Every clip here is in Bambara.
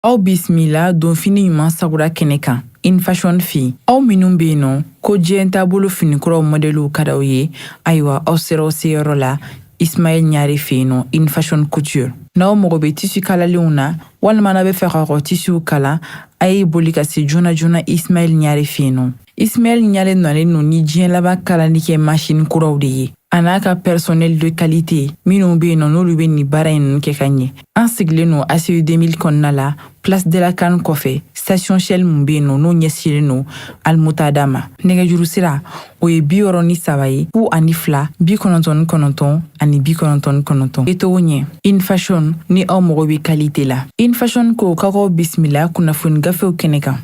aw bisimila donfini ɲuman sagura kɛnɛ kan In Fashion fɛ aw minnu be yen nɔ ko diɲɛ taabolo finikuraw mɔdɛliw ka d'aw ye ayiwa aw sera aw seyɔrɔ la Ismaël Gnare fɛ yen nɔ In Fashion Couture. N'aw mago bɛ tisi kalalenw na walima n'a bɛ fɛ ka kɔ tisiw kala, a ye boli ka se joona joona Ismaël Gnare fɛ yen nɔ. Ismaël Gnare nalen don ni diɲɛ laban kalali kɛ masini kuraw de ye, a n'a ka personnel de qualité minnu bɛ yen nɔ n'olu bɛ nin baara in ninnu kɛ ka ɲɛ. An sigilen don ACI 2000 kɔnɔna la place de la CAN kɔfɛ station shell mun be yen nɔ n'o ɲɛsilen no almutada ma nɛgɛjuru sira o ye bi wɔɔrɔ ni saba ye fu ani fila bi kɔnɔntɔn ni kɔnɔntɔn ani bi kɔnɔntɔn ni kɔnɔntɔn etogo ɲɛ In Fashion ni aw mago be kalite la In Fashion ko k'a k'aw bisimila kunnafoni gafew kɛnɛ kan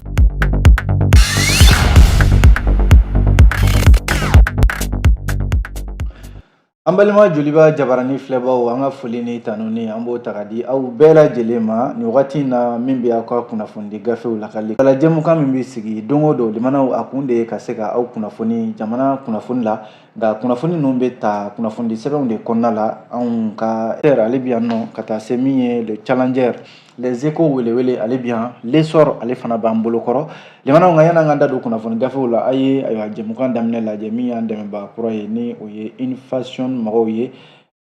An balima joliba jabarani filɛbaw an ka foli ni tanu ni an b'o ta ka di aw bɛɛ lajɛlen ma nin wagati in na min bɛ aw ka kunnafonidi gafew lakali wala jɛmukan min bɛ sigi don o don limanaw a kun de ye ka se ka aw kunnafoni jamana kunnafoni la nka kunnafoni ninnu bɛ ta kunnafonidi sɛbɛnw de kɔnɔna la anw ka ale bɛ yan nɔ ka taa se min ye le challenger les échos welewele ale bi yan l'essor ale fana b'an bolo kɔrɔ limanaw nka yan'an ka da don kunnafoni gafew la a ye ayiwa jɛmukan daminɛ lajɛ min y'an dɛmɛbaa kura ye ni o ye In Fashion mɔgɔw ye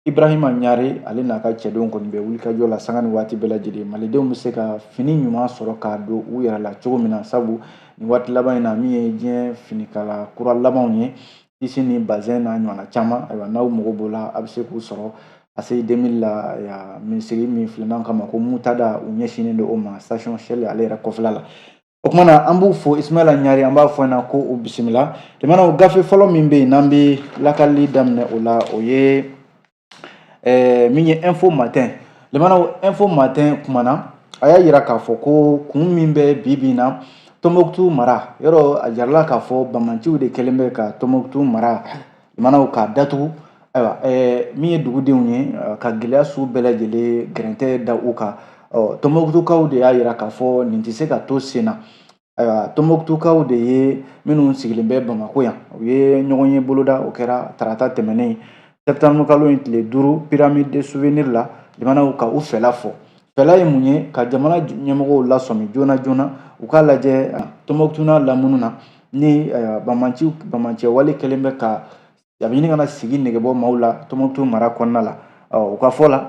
ibrahima ɲare ale n'a ka cɛdenw kɔni bɛ wulikajɔ la sanga ni waati bɛɛ lajɛlen malidenw bɛ se ka fini ɲuman sɔrɔ k'a don u yɛrɛ la cogo min na sabu nin waati laban in na min ye diɲɛ finikala kura labanw ye tisi ni bazɛn n'a ɲɔgɔnna caman ayiwa n'aw mago b'o la a bɛ se k'u sɔrɔ ACI 2000 la yan misiri min filanan kama ko mutada u ɲɛsinnen don o ma station shell ale yɛrɛ kɔfɛla la o tuma na an b'u fo ismaila ɲare an b'a fɔ na ko u bisimila limanaw gafe fɔlɔ min bɛ yen n'an bɛ lakali daminɛ o la o ye ɛɛ min ye info matin limanaw info matin kumana a y'a jira k'a fɔ ko kun min bɛ bi bi in na tɔnbɔkutu mara yɔrɔ a jirala k'a fɔ banbaanciw de kɛlen bɛ ka tɔnbɔkutu mara limanaw k'a datugu ayiwa ɛɛ min ye dugudenw ye ka gɛlɛya sugu bɛɛ lajɛlen gɛrɛntɛ da u kan ɔ tɔnbɔkutukaw de y'a jira k'a fɔ nin tɛ se ka to sen na Ayiwa Tɔnbukutukaw de ye minnu sigilen bɛ Bamakɔ yan u ye ɲɔgɔnye boloda o kɛra tarata tɛmɛnen septembre kalo in tile duuru pyramide de souvenir la limanaw ka u fɛla fɔ fɛla ye mun ye ka jamana ɲɛmɔgɔw lasɔmi joona joona u k'a lajɛ Tɔnbukutu n'a lamunu na ni banbaanciya wale kɛlen bɛ ka a bɛ ɲini ka na sigi negebɔ maaw la tɔnbɔkutu mara kɔnɔna la u ka fɔ la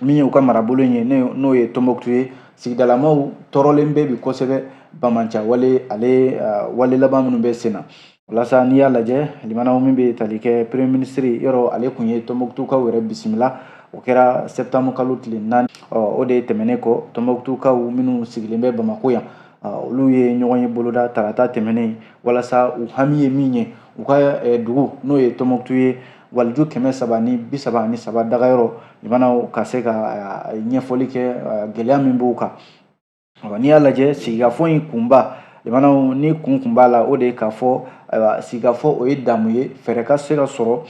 min ye u ka marabolo in ye n'o ye tɔnbɔkutu ye sigidalamaw tɔɔrɔlen bɛ bi kosɛbɛ banbaanciya wale ale wale laban minnu bɛ sen na walasa n'i y'a lajɛ limanaw min bɛ tali kɛ premier minisiri yɔrɔ ale tun ye tɔnbɔkutukaw yɛrɛ bisimila o kɛra septembre kalo tile naani o de tɛmɛnen kɔ tɔnbɔkutukaw minnu sigilen bɛ bamako yan olu ye ɲɔgɔnye boloda tarata tɛmɛnen walasa u hami ye min ye u ka dugu n'o ye tɔnbɔkutu ye waliju kɛmɛ saba ni bi saba ani saba dagayɔrɔ jamanaw ka se ka ɲɛfɔli kɛ gɛlɛya min b'u kan n'i y'a lajɛ sigikafɔ in kunba jamanaw ni kun kun b'a la o de ye k'a fɔ ayiwa sigikafɔ o ye damu ye fɛɛrɛ ka se ka sɔrɔ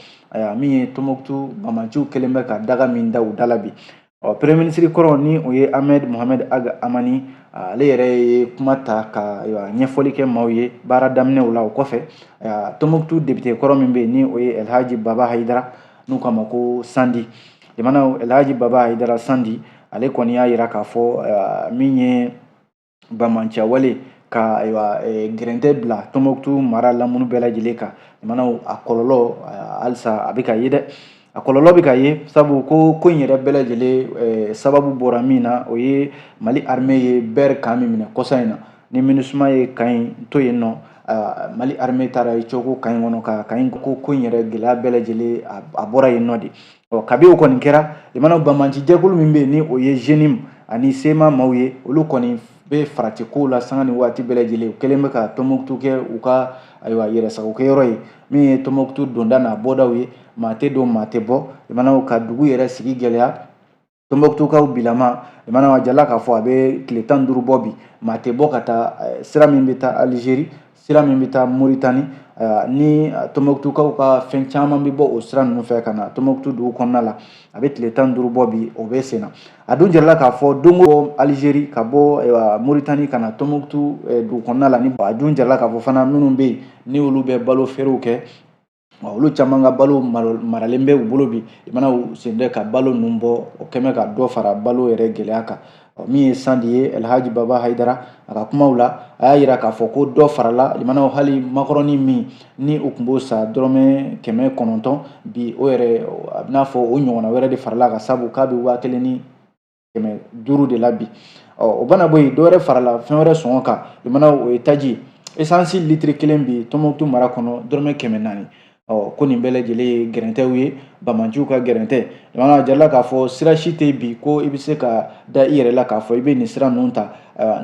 min ye tɔnbɔkutu banbaanciw kɛlen bɛ ka daga min da u da la bi ɔ premier ministre kɔrɔ ni o ye ahmed mohamed ag hamani ale yɛrɛ ye kuma ta ka ɲɛfɔli kɛ maaw ye baara daminɛw la o kɔfɛ tɔnbɔkutu depite kɔrɔ min bɛ yen ni o ye elhaji baba hayidara n'u k'a ma ko sandi jamana elhaji baba hayidara sandi ale kɔni y'a yira k'a fɔ min ye banbaanciyawale ka ayiwa eh, gɛrɛntɛ bila tɔnbɔkutu mara lamunu bɛɛ lajɛlen kan jamanaw a kɔlɔlɔ halisa a bɛ ka ye dɛ a kɔlɔlɔ bɛ ka ye sabu ko ko in yɛrɛ bɛɛ lajɛlen eh, sababu bɔra min na o ye mali armée ye bɛri kan min minɛ kɔsa in na ni minusuma ye kan in to yen nɔ mali armée taara i coko kan in kɔnɔ ka kan in ko ko in yɛrɛ gɛlɛya bɛɛ lajɛlen a bɔra yen nɔ de ɔ kabi o kɔni kɛra i mana banbaancijɛkulu min bɛ yen ni o ye zenim ani sema maaw ye olu kɔni bɛ farati kow la sanga ni waati bɛɛ lajɛlen u kɛlen bɛ ka tɔnbɔkutu kɛ u ka ayiwa yɛrɛsagokɛyɔrɔ ye min ye tɔnbɔkutu donda n'a bɔdaw ye maa tɛ don maa tɛ bɔ i mana ka dugu yɛrɛ sigi gɛlɛya tɔnbɔkutukaw bilama mana a jirala k'a fɔ a bɛ tile tan duuru bɔ bi maa tɛ bɔ ka taa eh, sira min bɛ taa alizeri sira min bɛ taa moritani eh, ni tɔnbɔkutukaw ka fɛn caman bɛ bɔ o sira ninnu fɛ ka na tɔnbɔkutu dugu kɔnɔna la a bɛ tile tan duuru bɔ bi o bɛ sen na a dun jirala k'a fɔ doniw alizeri ka bɔ eh, moritani ka na tɔnbɔkutu dugu kɔnɔna la ni a dun jirala k'a fɔ fana minnu bɛ yen ni olu bɛ balo feerew kɛ Wa olu caman ka balo maralen bɛ u bolo bi i mana u sɔnnen tɛ ka balo ninnu bɔ o kɛlen bɛ ka dɔ fara balo yɛrɛ gɛlɛya kan min ye sandi ye alhaji baba hayidara a ka kumaw la a y'a yira k'a fɔ ko dɔ farala limanaw hali makoroni min ni u tun b'o san dɔrɔmɛ kɛmɛ kɔnɔntɔn bi o yɛrɛ a bɛnaa fɔ o ɲɔgɔnna wɛrɛ de farala a kan sabu k'a bɛ waa kelen ni kɛmɛ duuru de la bi ɔ o mana bɔ yen dɔwɛrɛ farala fɛn wɛrɛ sɔngɔ kan i mana o ye taji esansi litiri kelen bi tɔnbɔkutu mara kɔnɔ dɔrɔmɛ kɛmɛ naani ɔ ko nin bɛɛ lajɛlen ye gɛrɛntɛw ye banbaanciw ka gɛrɛntɛ jamana jirala k'a fɔ sira si tɛ bi ko i bɛ se ka da i yɛrɛ la k'a fɔ i bɛ nin sira ninnu ta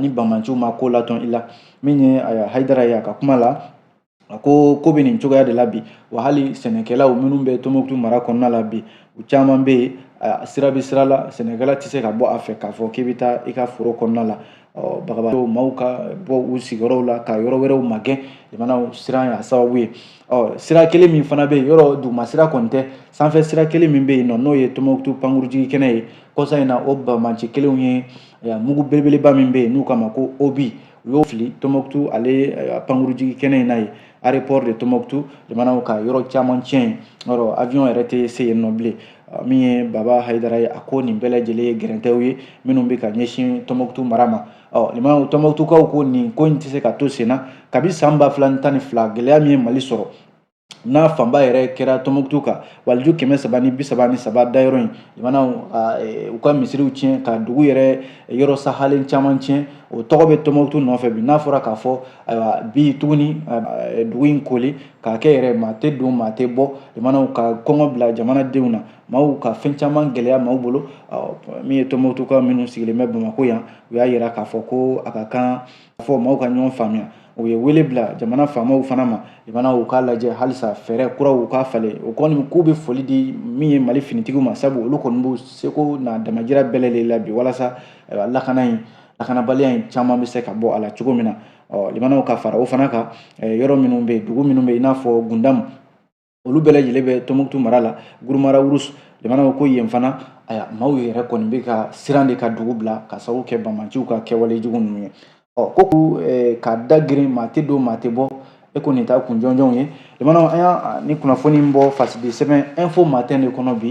ni banbaanciw ma ko latɔn i la min ye hayidara ye a ka kuma la a ko ko bɛ nin cogoya de la bi wa hali sɛnɛkɛlaw minnu bɛ tɔnbukutu mara kɔnɔna la bi u caman bɛ yen sira bɛ sira la sɛnɛkɛla tɛ se ka bɔ a fɛ k'a fɔ k'i bɛ taa i ka foro kɔnɔna la ɔ bagabagatɔw maaw ka bɔ u sigiyɔrɔw la ka yɔrɔ wɛrɛw magɛn lamɛnnaw siran y'a sababu ye ɔ sira kelen min fana bɛ yen yɔrɔ duguma sira kɔni tɛ sanfɛ sira kelen min bɛ yen nɔ n'o ye tɔnbukutu pankurujigi kɛnɛ ye kɔsa in na o bamanci kelenw ye mugu belebeleba min bɛ yen n'u k'a ma ko obus u y'o fili tɔnbukutu ale eh, pankurujigi kɛnɛ in na yen aéroport de tɔnbukutu lamɛnnaw ka yɔrɔ caman tiɲɛ yen yɔrɔ avion yɛrɛ tɛ se yen nɔ bilen ah, min ye baba hayidara ye a ko nin bɛɛ lajɛlen ye gɛrɛntɛw ye minnu bɛ ka ɲɛsin tɔnbukutu mara ma ɔ lamɛnnaw tɔnbukutukaw ko nin ko in tɛ se ka to sen na kabi san ba fila ni tan ni fila gɛlɛya min ye mali sɔrɔ n'a fanba yɛrɛ kɛra tɔnbukutu kan waliju kɛmɛ saba ni bi saba ni saba dayɔrɔ in lamɛnnaw u ka misiriw tiɲɛ ka dugu yɛrɛ yɔrɔ sahalen caman tiɲɛ o tɔgɔ bɛ tɔnbukutu nɔfɛ bi n'a fɔra k'a fɔ ayiwa bi tuguni dugu in kooli k'a kɛ yɛrɛ maa tɛ don maa tɛ bɔ lamɛnnaw ka kɔngɔ bila jamanadenw na maaw ka fɛn caman gɛlɛya maaw bolo min ye tɔnbukutukaw minnu sigilen bɛ bamakɔ yan u y'a yira k'a fɔ ko a ka kan fɔ maaw ka ɲɔgɔn faamuya u ye wele bila jamana faamaw fana ma lamɛnnaw u k'a lajɛ halisa fɛɛrɛ kuraw u k'a falen o kɔni k'u bɛ foli di min ye mali finitigiw ma sabu olu kɔni b'u seko n'a damajira bɛɛ lajɛlen la bi walasa lakana in lakanabaliya in caman bɛ se ka bɔ a la cogo min na ɔ lamɛnnaw ka fara o fana kan yɔrɔ minnu bɛ yen dugu minnu bɛ yen i n'a fɔ gundam olu bɛɛ lajɛlen bɛ tɔnbukutu mara la guruma rarus lamɛnnaw ko yen fana aya maaw yɛrɛ kɔni bɛ ka siran de ka dugu bila ka sababu kɛ bamanciw ka kɛwale jugu ninnu ye ɔ ko k'u eh, ka dagɛrɛn maa tɛ don maa tɛ bɔ e ko nin taa kun jɔnjɔnw ye lamɛnnaw an ye nin kunnafoni in bɔ fasidi sɛbɛn info matin de kɔnɔ bi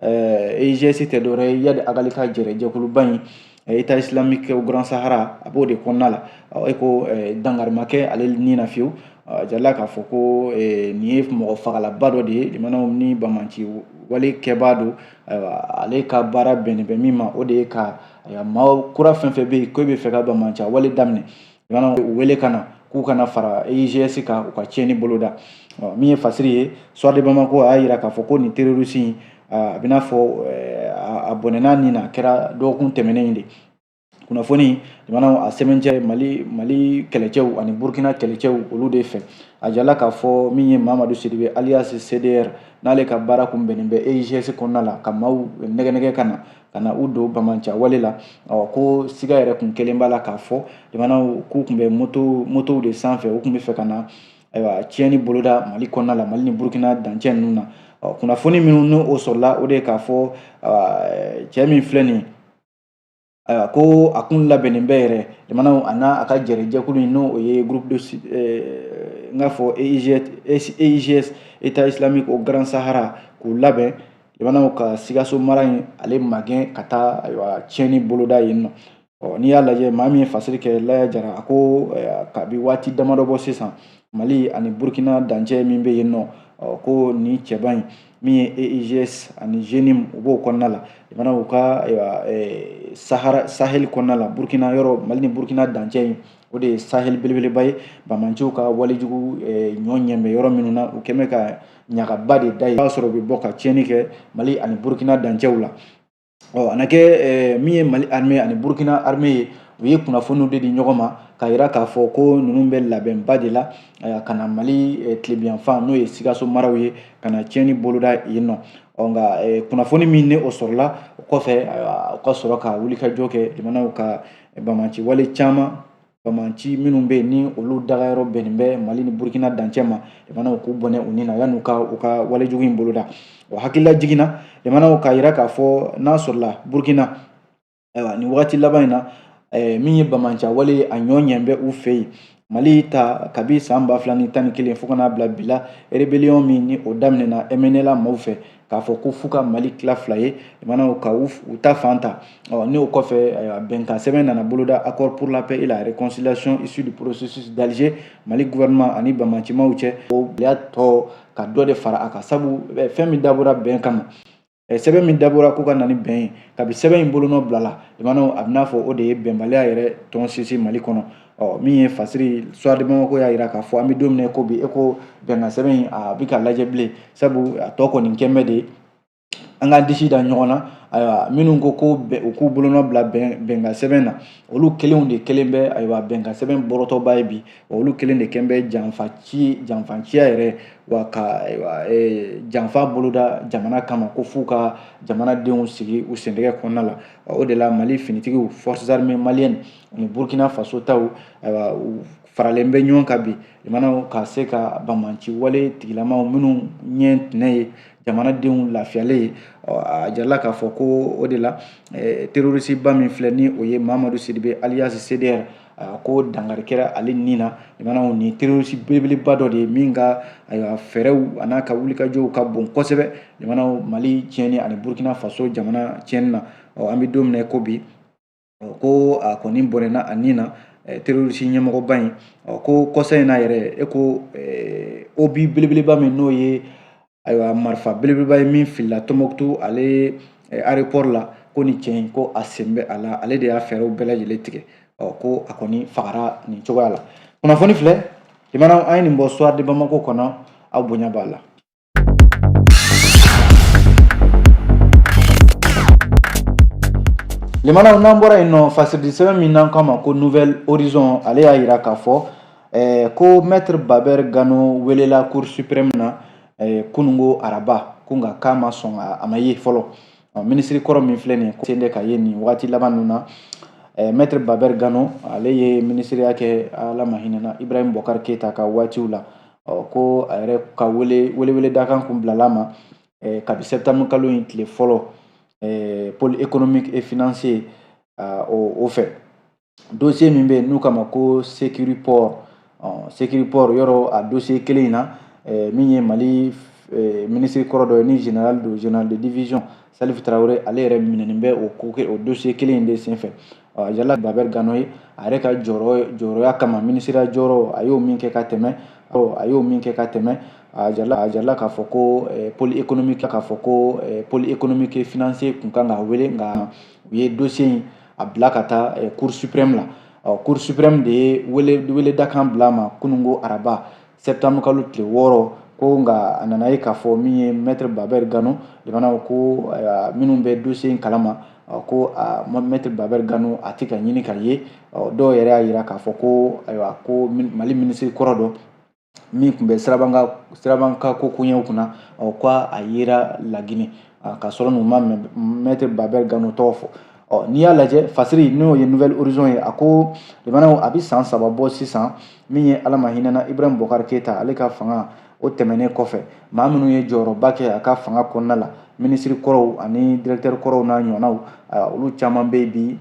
EIGS tɛ dɔwɛrɛ ye iyad ag ghali ka jɛɛrɛ jɛkuluba in Etat islamique au Grand Sahara a b'o de kɔnɔna la e ko dankari ma kɛ ale ni na fiyewu a jirala k'a fɔ ko nin ye mɔgɔ fagalaba dɔ de ye lamɛnnaw ni banbanci wale kɛbaa don ale ka baara bɛnnen bɛ min ma o de ye ka maa kura fɛn fɛn bɛ yen ko e b'a fɛ ka banbanci wale daminɛ lamɛnnaw u wele ka na k'u ka na fara EIGS kan u ka tiɲɛni boloda min ye fasiri ye Soir de Bamako a y'a jira k'a fɔ ko nin terroriste in a bɛ n'a fɔ a bɔnɛna ni na a kɛra dɔgɔkun tɛmɛnen in de kunnafoni lamɛnnaw a sɛmɛntiya mali kɛlɛcɛw ani burkina kɛlɛcɛw olu de fɛ a jirala k'a fɔ min ye mamadu sidibe alias cdr n'ale ka baara kun bɛnnen bɛ EIGS kɔnɔna la ka maaw nɛgɛnɛgɛ ka na ka na u don bamanca wale la ɔ ko siga yɛrɛ tun kɛlen b'a la k'a fɔ i b'a dɔn k'u tun bɛ moto motow de sanfɛ u tun b'a fɛ ka na ayiwa tiɲɛni boloda mali kɔnɔna la mali ni burukina dancɛ ninnu na ɔ kunnafoni minnu n'o o sɔrɔla o de ye k'a fɔ cɛ min filɛ nin ayiwa ko a kun labɛnnen bɛ yɛrɛ i b'a dɔn a n'a a ka jɛrɛjɛkulu in n'o o ye groupe de n k'a fɔ eigs eigs état islamique au grand sahara k'u labɛn i b'a dɔn ka sikaso mara in ale magɛn ka taa ayiwa tiɲɛni boloda yen nɔ ɔ n'i y'a lajɛ maa min ye fasiri kɛ laya jara a ko kabi waati damadɔ bɔ sisan mali ani burukina dancɛ min bɛ yen nɔ ɔ ko nin cɛba in min ye eigs ani jnim u b'o kɔnɔna la i b'a dɔn u ka ayiwa sahara sahel kɔnɔna la burukina yɔrɔ mali ni burukina dancɛ in o de ye sahel belebeleba ye bamanciw ka walejugu ɲɔ ɲɛ bɛ yɔrɔ minnu na u kɛn bɛ ka ɲagaba de da yen b'a sɔrɔ u bɛ bɔ ka tiɲɛni kɛ mali ani burukina dancɛw la ɔ a na kɛ min ye mali arme ani burukina arme ye u ye kunnafoniw de di ɲɔgɔn ma k'a yira k'a fɔ ko ninnu bɛ labɛnba de la ka na mali tilebiyanfan n'o ye sikaso maraw ye ka na tiɲɛni boloda yen nɔ ɔ nka kunnafoni min ni o sɔrɔla o kɔfɛ u ka sɔrɔ ka wulikajɔ kɛ i b'a dɔn ka bamanci wale caman bamanci minnu bɛ yen ni olu dagayɔrɔ bɛnnen bɛ mali ni burukina dancɛ ma i b'a dɔn k'u bɔnɛ u ni na yan'u ka u ka walejugu in boloda o hakililajigin na i b'a dɔn k'a yira k'a fɔ n'a sɔrɔla burukina ayiwa nin wagati laban in na eh, min ye bamanca wale ye a ɲɔ ɲɛ bɛ u fɛ yen mali ta kabi san ba fila ni tan ni kelen fo ka n'a bila bi la rébellion min ni o daminɛna mnla maaw fɛ k'a fɔ ko f'u ka mali tila fila ye i b'a dɔn ka u ta fan ta n'o kɔfɛ ayiwa bɛnkan sɛbɛn nana boloda accord pour la paix et la réconciliation issu du processus d'Alger mali gouvernement ani bamancimaw cɛ o y'a tɔ ka dɔ de fara a kan sabu fɛn min dabɔra bɛn kama sɛbɛn min dabɔra ko ka na ni bɛn ye kabi sɛbɛn in bolonɔ bilala i b'a dɔn a bɛ n'a fɔ o de ye bɛnbaliya yɛrɛ tɔn sinsin mali kɔnɔ ɔ min ye fasiri soir de bamako y'a jira k'a fɔ an bɛ don min na ko bi e ko bɛnkan sɛbɛn in a bɛ ka lajɛ bilen sabu a tɔ kɔni kɛn bɛ de an k'an disi da ɲɔgɔn na ayiwa minnu ko ko u k'u bolonɔ bila bɛnkan sɛbɛn na olu kelenw de kɛlen bɛ ayiwa bɛnkan sɛbɛn bɔrɔtɔba ye bi olu kelen de kɛn bɛ janfa ci janfanciya yɛrɛ wa ka ayiwa e, janfa boloda jamana kama ko f'u ka jamanadenw sigi u sendɛgɛ kɔnɔna la o de la mali finitigiw forces armées maliennes ni burkina faso taw ayiwa u faralen bɛ ɲɔgɔn kan bi jamanaw ka se ka banbaanci wale tigilamaw minnu ɲɛ tinɛ ye jamanadenw lafiyalen ye a jirala k'a fɔ ko o de la terorisiba min filɛ ni o ye mamadu sidibe aliyasi cdr ko dankari kɛra ale ni na jamanaw nin terorisi belebeleba dɔ de ye min ka ayiwa fɛɛrɛw an'a ka wulikajɔw ka bon kosɛbɛ jamanaw mali tiɲɛni ani burkina faso jamana tiɲɛni na ɔ an bɛ don min na ko bi ko a kɔni bɔnɛna a ni na terorisi ɲɛmɔgɔba in ko kɔsa in na yɛrɛ e ko obi belebeleba min n'o ye ayiwa marifa belebeleba ye min filila tɔnbɔkutu ale aéroport la ko nin cɛ in ko a sen bɛ a la ale de y'a fɛɛrɛw bɛɛ lajɛlen tigɛ ko a kɔni fagara nin cogoya la kunnafoni filɛ limanaw an ye nin bɔ soir de bamako kɔnɔ aw bonya b'a la Limanaw n'an bɔra yen nɔ fasiridi sɛbɛn min n'an k'a ma ko nouvel horizon ale y'a yira k'a fɔ eh, ko maître babɛr gano welela cour suprême na eh, kunungo araba ko nka k'a ma sɔn a ma ye fɔlɔ minisiri kɔrɔ min filɛ nin sen tɛ ka ye nin wagati laban ninnu na eh, maître babɛr gano ale ye minisiriya kɛ ala ma hinɛna ibrahim bɔkari keyita ka waatiw la ɔ ko a yɛrɛ ka wele welewele dakan kun bilala a ma eh, kabi septembre kalo in tile fɔlɔ eh, pôle économique et financier uh, o, o fɛ dossier min bɛ yen n'u k'a ma ko securiport ɔ securiport yɔrɔ a dossier kelen in na eh, min ye mali eh, minisiri kɔrɔ dɔ ye ni général don général de division salif tarawele ale yɛrɛ minɛnen bɛ o ko o dossier kelen in de senfɛ yala Babɛri Gano ye a yɛrɛ ka jɔyɔrɔ jɔyɔrɔya kama minisiriya jɔyɔrɔ a y'o min kɛ ka tɛmɛ a y'o min kɛ ka tɛmɛ a jirala k'a fɔ ko pôle économique k'a fɔ ko pôle économique et financier tun ka kan k'a wele nka u ye dossier in a bila ka taa cour suprême la cour suprême de ye wele dakan bila a ma kunungo araba septembre kalo tile wɔɔrɔ ko nka a nana ye k'a fɔ min ye maître babɛri gano jamana ko minnu bɛ dossier in kalama ko maître babɛri gano a tɛ ka ɲini ka ye dɔw yɛrɛ y'a yira k'a fɔ ko ayiwa ko mali minisiri kɔrɔ dɔ min tun bɛ sirabakan ko koɲɛw kunna ko a yera laginɛ k'a sɔrɔ n'u ma maître babɛri gano tɔgɔ fɔ ɔ n'i y'a lajɛ fasiri n'o ye nouvel horizon ye a ko limanaw a bɛ san saba bɔ sisan min ye ala ma hinɛna ibrahim bɔkari keyita ale ka fanga o tɛmɛnen kɔfɛ maa minnu ye jɔyɔrɔba kɛ a ka fanga kɔnɔna la minisiri kɔrɔw ani directeur kɔrɔw n'a ɲɔgɔnnaw olu caman bɛ yen bi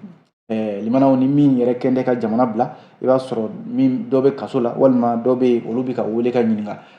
Eh, limanaw ni min yɛrɛ kɛn tɛ ka jamana bila i b'a sɔrɔ min dɔ bɛ kaso la walima dɔ bɛ yen olu bɛ ka wele ka ɲininka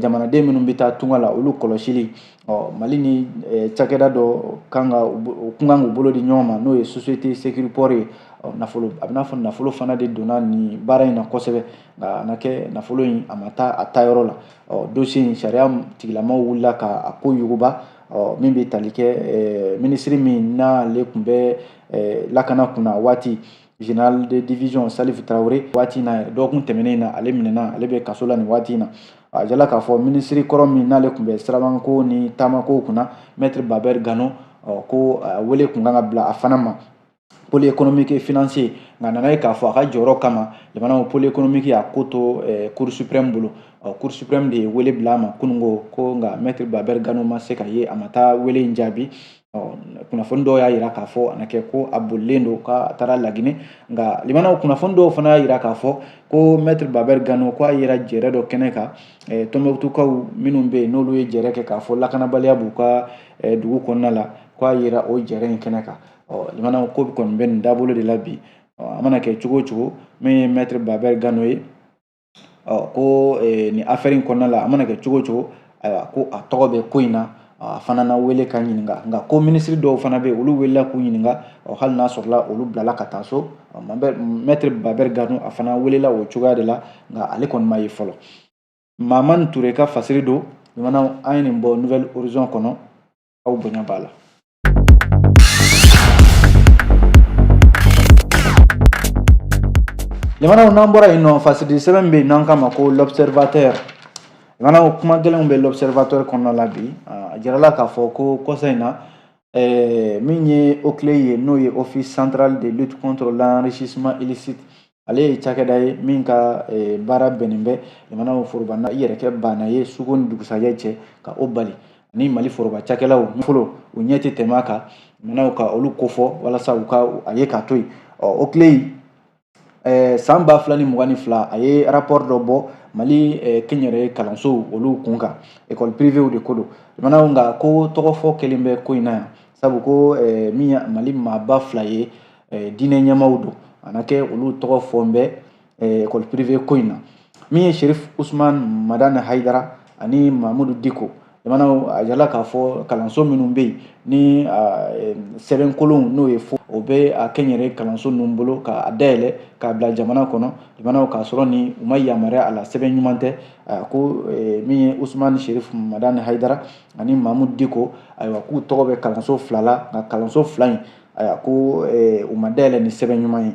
jamanaden minnu bɛ taa tunga la olu kɔlɔsili ɔ mali ni cakɛda dɔ kun kan k'u bolo di ɲɔgɔn ma n'o ye société sécuriport ye nafolo a bɛ n'a fɔ nafolo fana de donna nin baara in na kosɛbɛ nka a na kɛ nafolo in a ma taa a taayɔrɔ la ɔ dossier in sariya tigilamaw wulila ka a ko yuguba ɔ min bɛ tali kɛ minisiri min n'ale tun bɛ lakana kunna waati général de division Salif Traoré waati in na dɔgɔkun tɛmɛnen in na ale minɛna ale bɛ kaso la nin waati in na a jirala k'a fɔ minisiri kɔrɔ min n'ale tun bɛ sirabanko ni taamako kunna maître Baber Gano ɔ ko wele kun kan ka bila a fana ma pôle économique et financier nka a nana ye k'a fɔ a ka jɔyɔrɔ kama jamana pôle économique y'a ko to cour suprême bolo ɔ cour suprême de ye wele bila a ma kununko ko nka maître Baber Gano ma se ka ye a ma taa wele in jaabi kunnafoni dɔw y'a jira k'a fɔ a na kɛ ko a bolilen don k'a taara laginɛ nka limanaw kunnafoni dɔw fana y'a jira k'a fɔ ko maître Baber Gano k'a yera jɛrɛ dɔ kɛnɛ kan tɔnbukutukaw minnu bɛ yen n'olu ye jɛrɛ kɛ k'a fɔ lakanabaliya b'u ka dugu kɔnɔna la k'a yera o jɛrɛ in kɛnɛ kan limanaw ko kɔni bɛ nin dabolo de la bi a mana kɛ cogo o cogo min ye maître Baber Gano ye ɔ ko nin affaire in kɔnɔna la a mana kɛ cogo o cogo ayiwa ko a tɔgɔ bɛ ko in na a fana na wele ka ɲininka nka ko minisiri dɔw fana bɛ yen olu welela k'u ɲininka ɔ hali n'a sɔrɔla olu bilala ka taa so maître Baber Gano a fana welela o cogoya de la nka ale kɔni ma ye fɔlɔ mamani ture ka fasiri don jamanaw an ye nin bɔ Nouvel Horizon kɔnɔ aw bonya b'a la jamanaw n'an bɔra yen nɔ fasiri sɛbɛn bɛ yen n'an k'a ma ko l'observateur jamanaw kuma gɛlɛnw bɛ l'observateur kɔnɔna la bi a jirala k'a fɔ ko kɔsa in na min ye OCLEI ye n'o ye office central de lutte contre l'enrichissement illicite ale ye cakɛda ye min ka eh, baara bɛnnen bɛ jamanaw foroba i yɛrɛ kɛ baana ye suko ni dugusajɛ cɛ ka o bali ani mali foroba cakɛlaw fɔlɔ u ɲɛ tɛ tɛmɛ a kan jamanaw ka olu kofɔ walasa u ka a ye k'a to yen OCLEI ye eh, san ba fila ni mugan ni fila a ye rapport dɔ bɔ mali eh, kɛnyɛrɛye kalansow olu kun kan école privéw de ko don jamanaw nka ko tɔgɔfɔ kɛlen bɛ ko in na yan sabu ko min ye mali maaba fila ye diinɛ ɲɛmaaw don a na kɛ olu tɔgɔ fɔlen bɛ école privée ko in na min ye sherif usman madani hayidara ani mahamudu diko jamanaw a jirala k'a fɔ kalanso minnu bɛ yen ni sɛbɛnkolonw n'o ye faux o bɛ a kɛnyɛrɛye kalanso ninnu bolo k'a dayɛlɛ k'a bila jamana kɔnɔ jamanaw k'a sɔrɔ ni u ma yamaruya a la sɛbɛn ɲuman tɛ ko min ye usman sherif madani hayidara ani mahamudu diko ayiwa k'u tɔgɔ bɛ kalanso fila la nka kalanso fila in ayiwa ko u ma dayɛlɛ ni sɛbɛn ɲuman ye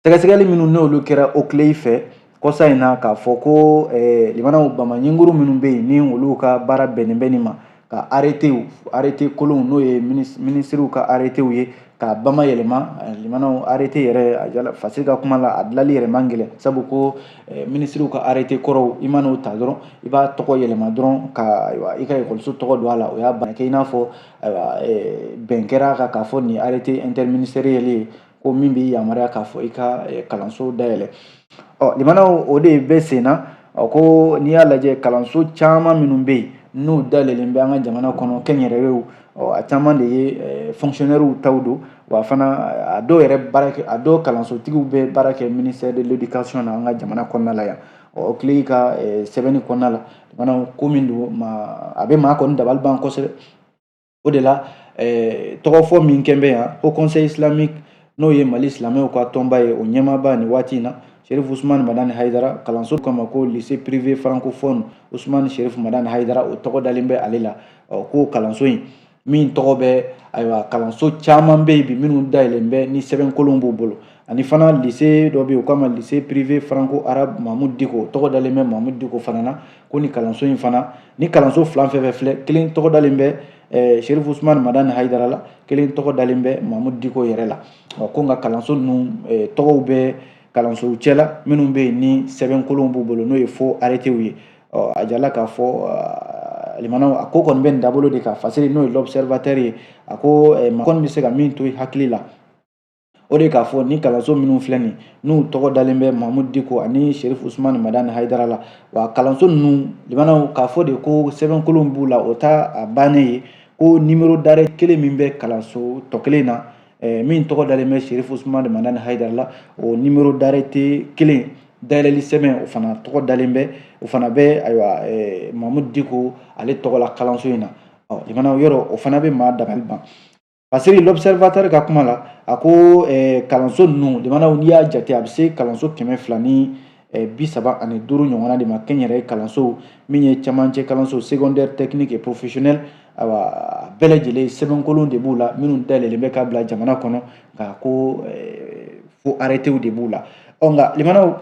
sɛgɛsɛgɛli minnu n'olu kɛra okilei fɛ kɔsa in na k'a fɔ ko limanaw bamaɲinkuru minnu bɛ yen ni olu ka baara bɛnnen bɛ nin ma ka aretew arete kolonw n'o ye minisiriw ka aretew ye ka bama yɛlɛma eh, limanaw arete yɛrɛ a jirala fasiri ka kuma la a dilali yɛrɛ man gɛlɛn sabu ko eh, minisiriw ka arete kɔrɔw i man'o ta dɔrɔn i b'a tɔgɔ yɛlɛma dɔrɔn ka ayiwa i ka ekɔliso tɔgɔ don a la o y'a bannen kɛ i n'a fɔ ayiwa eh, bɛn kɛra a kan k'a fɔ nin arrêté interministériel ye ko min b'i yamaruya k'a fɔ i ka eh, kalanso dayɛlɛ ɔ limanaw o de bɛ sen na ko n'i y'a lajɛ kalanso caman minnu bɛ yen n'u dayɛlɛlen bɛ an ka jamana kɔnɔ kɛnyɛrɛyew ɔ a caman de ye eh, fonctionnaires taw don wa fana a dɔw yɛrɛ baara kɛ a dɔw kalansotigiw bɛ baara kɛ ministère de l'éducation na an ka jamana kɔnɔna la yan okilei ka eh, sɛbɛnni kɔnɔna la limanaw ko min don a bɛ maa kɔni dabali ban kosɛbɛ o de la eh, tɔgɔfɔ min kɛn bɛ yan ko haut conseil islamique n'o ye mali silamɛw ka tɔnba ye o ɲɛmaaba nin waati in na sherif usumani madani hayidara kalanso k'a ma ko lycée privé francophone usumani sherif madani hayidara o tɔgɔ dalen bɛ ale la ko kalanso in min tɔgɔ bɛ ayiwa kalanso caman bɛ yen bi minnu dayɛlɛn bɛ ni sɛbɛnkolon b'u bolo ani fana lycée dɔ bɛ yen u k'a ma lycée privé franco arabe mamudu diko tɔgɔ dalen bɛ mamudu diko fana na ko ni kalanso in fana ni kalanso fila fɛn fɛn filɛ kelen tɔgɔ dalen bɛ eh, sherif usman madani hayidara la kelen tɔgɔ dalen bɛ mamudu diko yɛrɛ la ɔ ko nka kalanso ninnu eh, tɔgɔw bɛ kalansow cɛla minnu bɛ yen ni sɛbɛnkolonw b'u bolo n'o ye faux arrêtéw ye ɔ a jirala k'a fɔ limanaw a ko kɔni bɛ nin dabolo de kan fasiri n'o ye l'observateur ye a ko maa kɔni bɛ se ka min to i hakili la o de k'a fɔ ni kalanso minnu filɛ nin n'u tɔgɔ dalen bɛ mahamudu diko ani sherif usumani madani hayidara la wa kalanso ninnu limanaw k'a fɔ de ko sɛbɛnkolon b'u la o t'a bannen ye ko nimero dare kelen min bɛ kalanso tɔ kelen na eh, min tɔgɔ dalen bɛ serifu usumani madani hayidara la o nimero darete kelen dayɛlɛli sɛbɛn o fana tɔgɔ dalen bɛ o fana bɛ ayiwa eh, mamudu diko ale tɔgɔ la kalanso in na ɔ limanaw yɔrɔ o fana bɛ maa dabali ban fasiri l'observateur ka kuma la a ko eh, kalanso ninnu limanaw n'i y'a jate a bɛ se kalanso kɛmɛ fila ni bi saba ani duuru ɲɔgɔnna de ma kɛnyɛrɛye kalanso min ye camancɛ kalanso secondaire technique et professionnel awa bɛɛ lajɛlen sɛbɛnkolon de b'u la minnu dayɛlɛlen bɛ ka bila jamana kɔnɔ ka ko faux arrêtéw de b'u la ɔ nka limanaw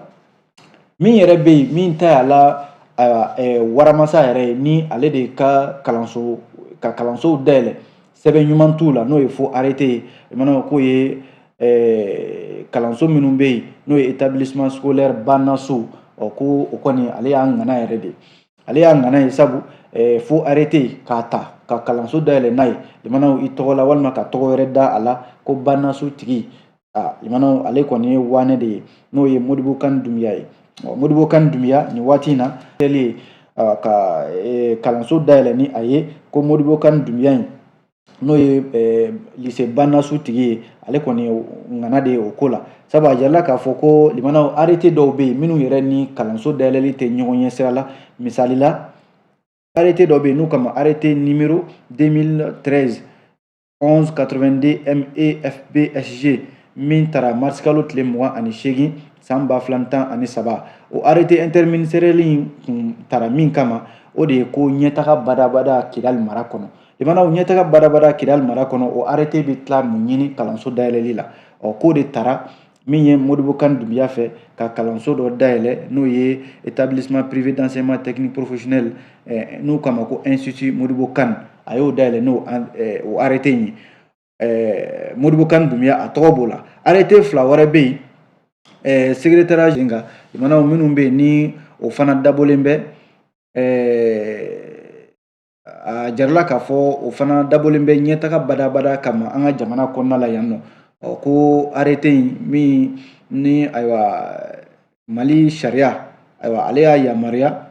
min yɛrɛ bɛ yen min ta y'a la ayiwa waramasa yɛrɛ ye ni ale de ka kalanso ka kalansow dayɛlɛ sɛbɛn ɲuman t'u la n'o ye fo arete ye limanaw k'o ye eh, kalanso minnu bɛ yen n'o ye établissement scolaire bannaso ɔ ko o kɔni ale y'a ŋana yɛrɛ de ale y'a ŋana ye sabu eh, fo arete k'a ta ka kalanso dayɛlɛ n'a ye limanaw i tɔgɔ la walima ka tɔgɔ wɛrɛ da a la ko bannaso tigi aa limanaw ale kɔni ye waane de ye n'o ye modibo kan dunbiya ye modibo kan dunbiya nin waati in na kɛli ye ka e, kalanso dayɛlɛ ni a ye ko modibo kan dunbiya in n'o ye e, lise bannaso tigi ye ale kɔni ŋana de ye o ko la sabu a jirala k'a fɔ ko limanaw arete dɔw bɛ yen minnu yɛrɛ ni kalanso dayɛlɛli tɛ ɲɔgɔn ɲɛ sira la misali la arete dɔ bɛ yen n'u k'a ma arete nimero 2013 11 82 MEFBSG min tara marisikalo tile mugan ani seegin san ba fila ni tan ani saba o arete interministeriɛli in tun tara min kama o de ye ko ɲɛtaga badabada kidali mara kɔnɔ limanaw ɲɛtaga badabada kidali mara kɔnɔ o arete bɛ tila mun ɲini kalanso dayɛlɛli la ɔ k'o de tara min ye modibo kan dunbiya fɛ ka kalanso dɔ dayɛlɛ n'o ye établissement privé d'enseignement technique professionnel eh, n'u k'a ma ko institut modibo kan a y'o dayɛlɛ n'o eh, o arrêté in ye eh, modibo kan dunbiya a tɔgɔ b'o la arrêté fila wɛrɛ bɛ yen eh, secrétariat in kan limanaw minnu bɛ yen ni o fana dabɔlen bɛ eh, A jirala k'a fɔ o fana dabɔlen bɛ ɲɛtaga badabada kama an ka jamana kɔnɔna la yan nɔ ɔ ko arete in min ni ayiwa mali sariya ayiwa ale y'a yamaruya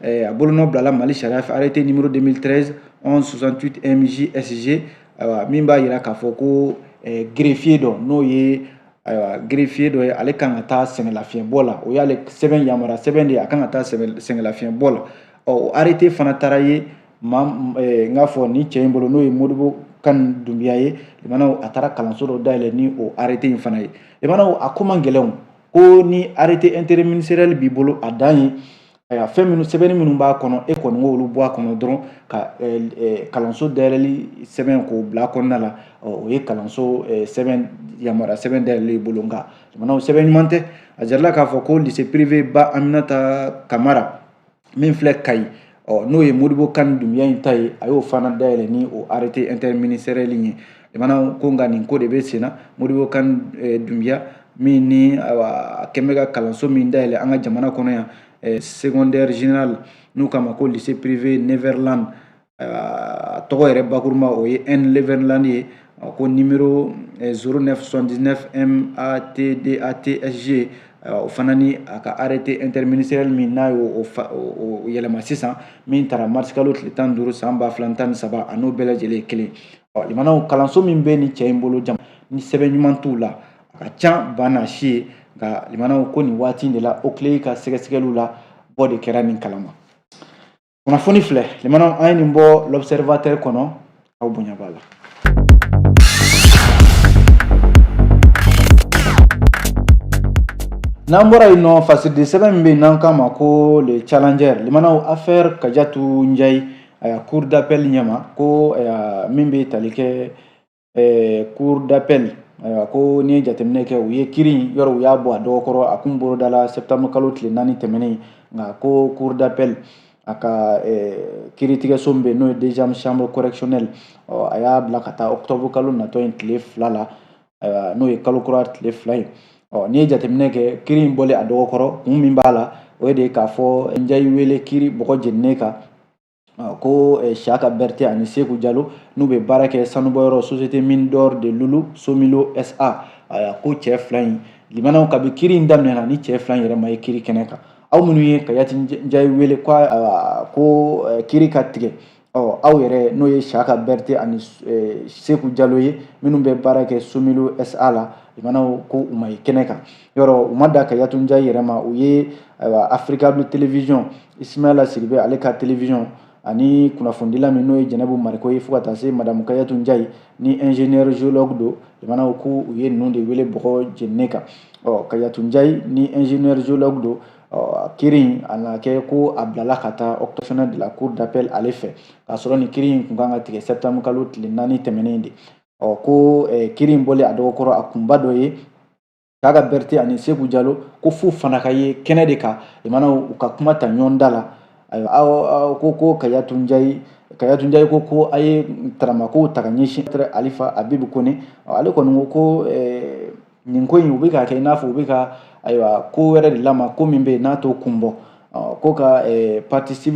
a bolonɔ bilala mali sariya fɛ arete nimero 2013 11 68 mj sg ayiwa min b'a jira k'a fɔ ko gerefiye dɔ n'o ye ayiwa gerefiye dɔ ye ale kan ka taa sɛgɛnlafiɲɛbɔ la o y'ale sɛbɛn yamaruya sɛbɛn de ye a kan ka taa sɛgɛnlafiɲɛbɔ la ɔ o arete fana taara ye ma n k'a fɔ nin cɛ in bolo n'o ye modibo kan dunbiya ye limanaw a taara kalanso dɔ dayɛlɛ ni o arete in fana ye limanaw a ko man gɛlɛn ko ni arete interministeriɛli b'i bolo a dan ye ayiwa fɛn minnu sɛbɛnni minnu b'a kɔnɔ e kɔni k'olu bɔ a kɔnɔ dɔrɔn ka kalanso dayɛlɛli sɛbɛn k'o bila a kɔnɔna la o ye kalanso sɛbɛn yamaruya sɛbɛn dayɛlɛli bolo nka limanaw sɛbɛn ɲuman tɛ a jirala k'a fɔ ko lise pirive ba aminata kamara min filɛ kayi ɔ n'o ye modibo kan dunbiya in ta ye a y'o fana dayɛlɛ ni o arrêté interministériel in ye jamana ko nka nin ko de bɛ sen na modibo kan eh, dunbiya min ni a kɛlen bɛ ka kalanso min dayɛlɛ an ka jamana kɔnɔ yan eh, secondaire général n'u k'a ma ko lycée privé neverland a tɔgɔ yɛrɛ bakuruma o ye n neverland ye ko numéro zéro neuf soixante-dix-neuf matdat sg o fana ni a ka arrêté interministériel min n'a y'o yɛlɛma sisan min taara marisikalo tile tan duuru san ba fila tan ni saba a n'o bɛɛ lajɛlen kelen ɔ limanaw kalanso min bɛ ni cɛ in bolo jama ni sɛbɛn ɲuman t'u la a ka ca ba n'a si ye nka limanaw ko nin waati de la oclei ka sɛgɛsɛgɛliw la bɔ de kɛra nin kalama kunnafoni filɛ limanaw an ye nin bɔ l'observateur kɔnɔ aw bonya b'a la n'an bɔra yen nɔ fasidi sɛbɛn min bɛ yen n'an k'a ma ko le challenger limanaw affaire kajatu njayi aya cour d'appel ɲɛma ko min bɛ tali kɛ eh, cour d'appel ayiwa ko n'i ye jateminɛ kɛ u ye kiri in yɔrɔ u y'a bɔ a dɔgɔkɔrɔ a kun bolodala septembre kalo tile naani tɛmɛnen nka ko cour d'appel a ka eh, kiritigɛso min bɛ yen n'o ye deuxième chambre correctionnelle ɔ a y'a bila ka taa octobre kalo natɔ in tile fila la ayiwa n'o ye kalo kura tile fila ye ɔ n'i ye jateminɛ kɛ kiri in bɔlen a dɔgɔkɔrɔ kun min b'a la o ye de k'a fɔ njayi wele kiri bɔgɔ jeninen kan ko eh, siyaka berete ani seku jalo n'u bɛ baara kɛ sanubɔyɔrɔ société mine d'or de lulu somilo sa aya ko cɛ fila in limanaw kabi kiri in daminɛna ni cɛ fila in yɛrɛ ma ye kiri kɛnɛ kan aw minnu ye kayatu njayi wele ko ko eh, kiri ka tigɛ ɔ aw yɛrɛ n'o ye siyaka berete ani eh, seku jalo ye minnu bɛ baara kɛ somilo sa la limanaw ko u ma ye kɛnɛ kan yɔrɔ u ma dan kayatu njayi yɛrɛ ma u ye ayiwa africable télévision isimayila sidibe ale ka télévision ani kunnafonidila min n'o ye jɛnɛbu mariko ye fo ka taa se madamu kayatu njayi ni ingénieur géologue don limanaw ko u ye ninnu de wele bɔgɔ jeninen kan ɔ kayatu njayi ni ingénieur géologue don ɔ kiri in a na kɛ ko a bilala ka taa octobre kalo de la cour d'appel ale fɛ k'a sɔrɔ nin kiri in kun kan ka tigɛ septembre kalo tile naani tɛmɛnen de ɔ ko kiri in bɔlen a dɔgɔkɔrɔ a kunba dɔ ye ko siyaka berete ani seku jalo ko f'u fana ka ye kɛnɛ de kan limanaw u ka kuma ta ɲɔgɔn da la ayiwa aw ko ko kayatu njayi kayatu njayi ko ko a ye taramakow ta ka ɲɛsin alifa abibu kone ale kɔni ko ko eh, nin ko in u bɛ k'a kɛ i n'a fɔ u bɛ ka ayiwa ko wɛrɛ de lama ko min bɛ yen n'a t'o kun bɔ ko ka eh, partie civile